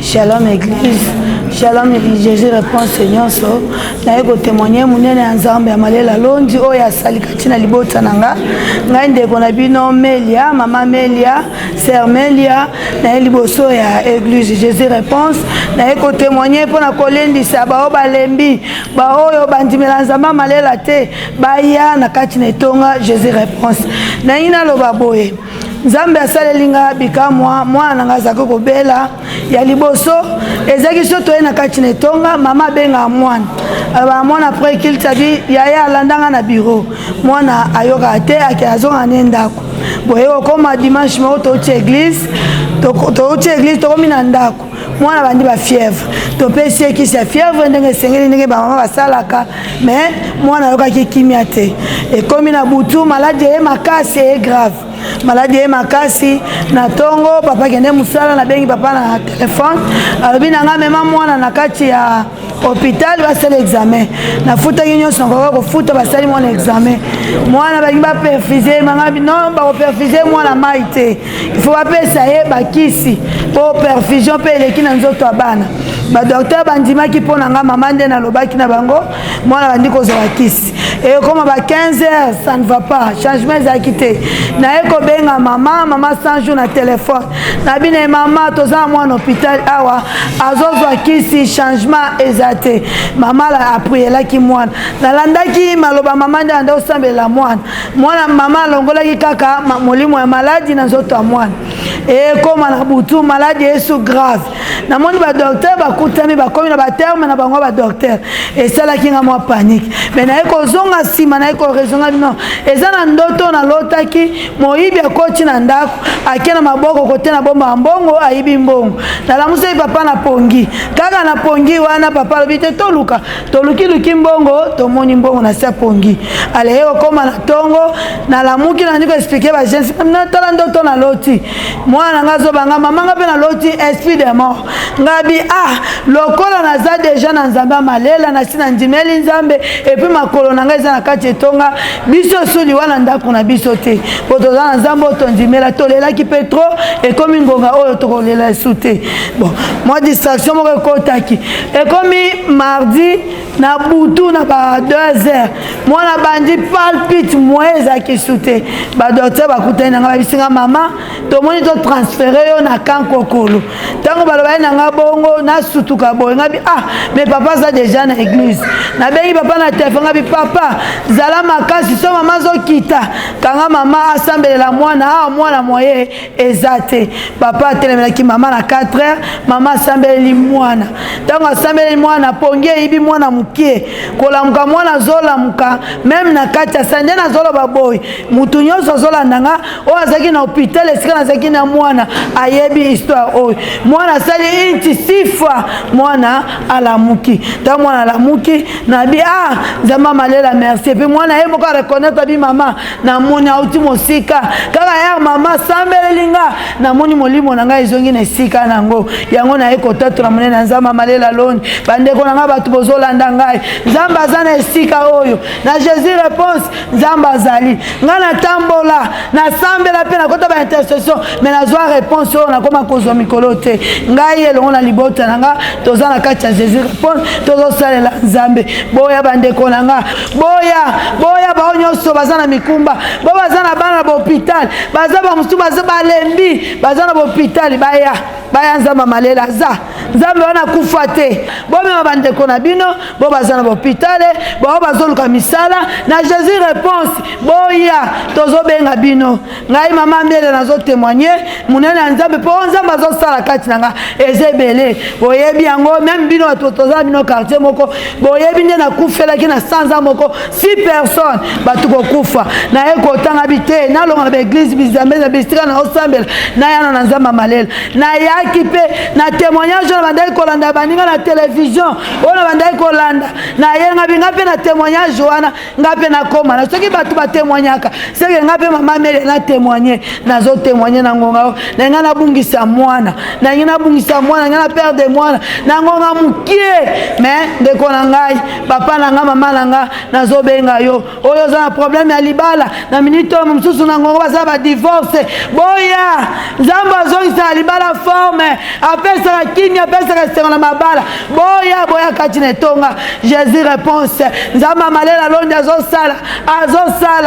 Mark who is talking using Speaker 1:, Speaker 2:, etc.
Speaker 1: Shalom Église, Shalom Église, Jésus répond Seigneur so naye ko témoigner munene ya Nzambe ya malela longi oyo asali kati na libota na nga ngai ndeko na bino Melia, mama Melia, sœur Melia naye liboso ya Église Jésus réponse naye ko témoigner mpo na kolendisa baoyo balembi baoyo bandimela Nzambe malela te baya na kati na etonga Jésus réponse naye naloba boye nzambe asaleli nga bikamwa mwana na nga azalaki kobela ya liboso ezalaki so toye na kati na etonga mama abengaka mwana alobaka mwana après kilte abi yaya alanda nga na biro mwana ayokaka te ake azongaka ne ndako boye kokoma dimanche moko touti eglise touti eglise tokomi na ndako mwana bandi bafièvre topesi ye kisi ya fièvre ndenge esengeli ndenge bamama basalaka me mwana ayokaki kimia te ekomi na butu maladi eye makasi eye grave maladi eye makasi na ntongo papa kende mosala nabengi papa na telefone alobi na ngai mema mwana na kati ya hôpital basala examen nafutaki nyonso nakoka kofuta basali mwana examen mwana balingi baperfuse manga non bakoperfuse mwana mai te faut bapesa ye bakisi mpo perfusion mpe eleki na nzoto ya bana badoktere bandimaki mpo na ngai mama nde nalobaki na bango mwana bandi kozwa bakisi ekoma ba 15 heures ça ne va pas changement ezalaki te naye kobenga mama mama 100 jour na telefone na bino ye mama toza na mwana hôpital awa azozwa kisi changement eza te mama aprielaki mwana nalandaki maloba mama nde anda osambelela mwana mwana mama alongolaki kaka molimo ya maladi na nzoto ya mwana ekoma na butu maladi esu grave namoni badoktere bakutami bakomi na baterme na bango badoktere esalaki nga mwa panike me naye kozonga nsima naye koresonga no eza na ndoto nalotaki moyibi akoti na ndako ake na maboko kote na bomba ya mbongo ayibi mbongo nalamusaki papa na pongi kaka na pongi wana papa alobi te toluka tolukiluki mbongo tomoni mbongo na se pongi aleye kokoma na ntongo nalamuki nandi koexplike bagensi natala ndoto na loti mwana na ngai azobanga mama ngai mpe na loti esprit de mort ngabi a ah, lokola naza deja na nzambe ya malela nasi na ndimeli nzambe epuis makolo na ngai eza na kati etonga biso esu liwa na ndako na biso te mpo toza na nzambe oyo tondimela tolelaki mpe tro ekomi ngonga oyo tokolela esu te bon mwa distraction moko ekotaki ekomi mardi na butu na ba 2 heures mwana bandi palpite moye eza kisu te badoktere bakutani na ngai babisi ngai mama tomoni totransfere yo na kan kokolo ntango balobali na ngai bongo nasutuka boye ngai bi ah mais papa aza deja na église nabengi papa na telefone ngai bi papa zala makasi so mama azokita kanga mama asambelela mwana ah mwana moye eza te papa atelemelaki mama na 4 heures mama asambeleli mwana ntango asambeleli mwana pongi eyibi mwana mokie kolamuka mwana azolamuka meme na kati ya sande nazoloba boye motu nyonso azolanda nga oyo azalaki na hopital esika nazalaki na mwana ayebi histoire oyo mwana asali inti sifa mwana alamuki ntango mwana alamuki nabi a ah, nzambe amalela merci epuis mwana ye moko areconnaitre abi mama namoni auti mosika kaka yar mama sambeleli nga namoni molimo na ngai ezongi na esika na yango yango naye kotatola monene ya nzambe amalela loni bandeko na ngai bato bozolanda ngai nzambe aza na esika oyo na jésus réponse nzambe azali ngai natambola nasambela mpe nakota ba intercession me nazwa réponse oyo nakoma kozwa mikolo te ngai elongo na libota na ngai toza na kati ya jésus réponse tozosalela nzambe boya bandeko na ngai boya boya bao nyonso baza na mikumba bo baza na bana na bahopitale baza bamosusu baza balembi baza na bahopitale baya baya nzambe malela aza nzambe wana akufa te bomema bandeko na bino bo baza na bahopitale bao bazoluka misala na jésus réponse boya tozobenga bino ngai mama miele nazo témoigne monene ya nzambe mpo nzambe azosala kati na ngai eza ebele boyebi yango meme bino bato tozala bino quartier moko boyebi nde nakufelaki na sanza moko si personne bato kokufa naye kotanga bi te nalonga na baeglise bizambe na bisika na osambela nayana na nzambe ya malela nayaki mpe na témoignage oyo nabandaki kolanda baninga na televizio oyo nabandaki kolanda nayengabi ngai mpe na témoignage wana nga mpe nakoma na soki bato batemoignaka seke nga mpe mama mele natemoigne nazotemoigne na ngonga oyo na ngai nabungisa mwana na ngai nabungisa mwana ngai na pere de mwana na ngonga mokie me ndeko na ngai papa na ngai mama na ngai nazobenga yo oyo oza na probleme ya libala na minite oyo mosusu na ngongo basala badivorce boya nzambe azongisaka libala forme apesaka kimi apesaka esengo na mabala boya boya kati na etonga jesus réponse nzambe amalela londi azosala azosala